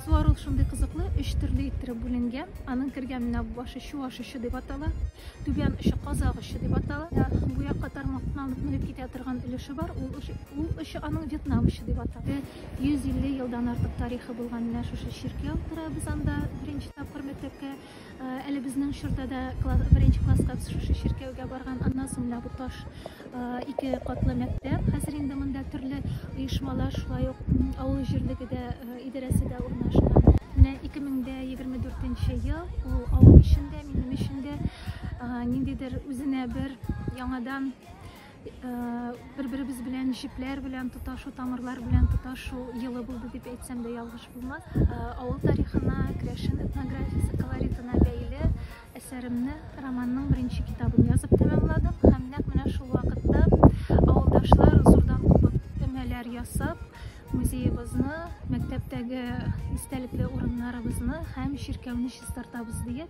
Суару шундый кызыклы, өч төрле иттереп бүленгән. Аның кергән менә бу башы чуаш очы дип атала, түбән очы казак очы дип атала. Бу якка тармактан алып менеп китә торган өлеше бар, ул очы аның Вьетнам очы дип атала. 150 елдан артык тарихы булган менә шушы чиркәү тора без анда беренче тапкыр мәктәпкә. Әле безнең чорда да беренче класска шушы чиркәүгә барган, аннан соң менә бу таш ике катлы мәктәп. Хәзер инде монда төрле оешмалар, шулай ук авыл җирлеге дә, идарәсе дә урнашкан. Менә 2024 нче ел, ул авыл өчен дә, минем өчен дә ниндидер үзенә бер яңадан Бер-беребез белән җепләр белән тоташу, тамырлар белән тоташу елы булды дип әйтсәм дә ялгыш булмас. Авыл тарихына, керәшен этнографиясе колоритына бәйле әсәремне, романның беренче китабын язып тәмамладым һәм нәкъ менә шул вакытта авылдашлар зурдан кубып өмәләр ясап, музеебызны, мәктәптәге истәлекле урыннарыбызны һәм чиркәүне чистартабыз диеп,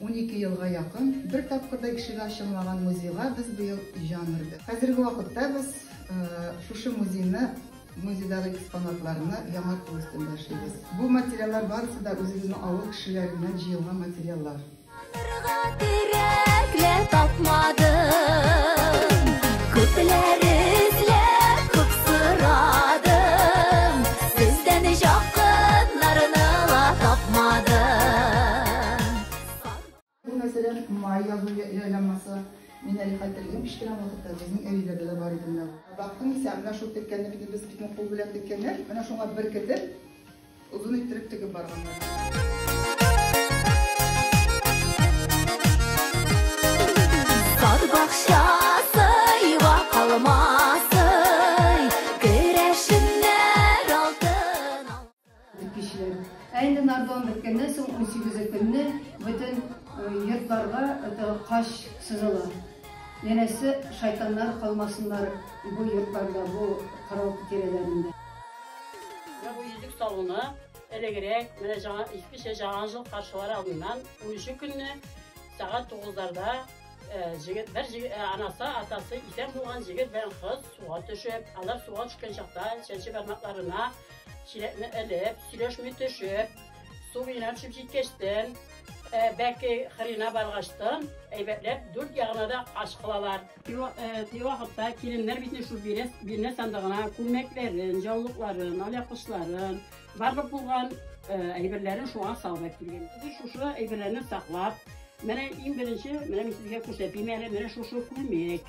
Унике елга якын бер тапкыр да ишеге ачылмаган музейга без быел җан өрдек. Хәзерге вакытта без шушы музейны, музейдагы экспонатларны яңарту өстендә эшлибез. Бу материаллар барысы да үзебезнең авыл кешеләреннән җыелган материаллар. Танырга терәк лә тапмадым. Күпләр Бу мәсәлән, май язу җайланмасы. Мин әле хәтерлим, кечкенә вакытта безнең әбиләрдә дә бар иде менә. Бактым исә, менә шул теккәнне бит без битне кул белән теккәннәр, менә шуңа беркетеп, озын иттереп тегеп барганнар. Кешеләр. Ә инде Нардон беткәннән соң унсигезе көнне бөтен йортларга кач сызыла. Янәсе, шайтаннар калмасыннар бу йортларда, бу кырау тирәләрендә. Менә бу Йөзек салоны элегрәк, менә җа, искечә Җаан жыл каршылар алдыннан, унөче көнне сәгать тугызларда җегет, бер җегет, анасы, атасы исән булган җегет белән кыз суга төшеп, алар суга төшкән чакта чәнче бармакларына Чиләкне элеп, сөйләшми төшеп, су белән төшеп җиткәчтен, бәке кырыена баргачтын, әйбәтләп дүрт ягына да ач кылалар. Теге вакытта киленнәр бит шул бирнә сандыгына күлмәкләрен, җаулыкларын, алъяпкычларын, барлык булган әйберләрен шуңа салып килгән. Без шушы әйберләрне саклап, менә иң беренче, менә мин сезгә күрсәтим әле, менә шушы күлмәк.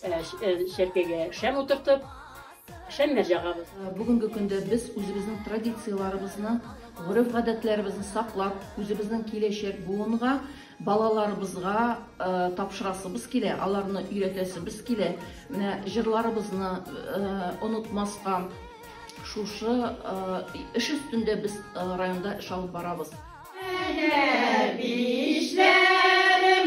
Чәркәгә шәм утыртып, шәмнәр җагабыз. Бүгенге көндә без үзебезнең традицияләребезне, гореф-гадәтләребезне саклап, үзебезнең киләчәк буынга, балаларыбызга тапшырасыбыз килә, аларны өйрәтәсебез килә. Менә җырларыбызны онытмаска, шушы эш өстендә без районда эш алып барабыз. Әнә бишләрем.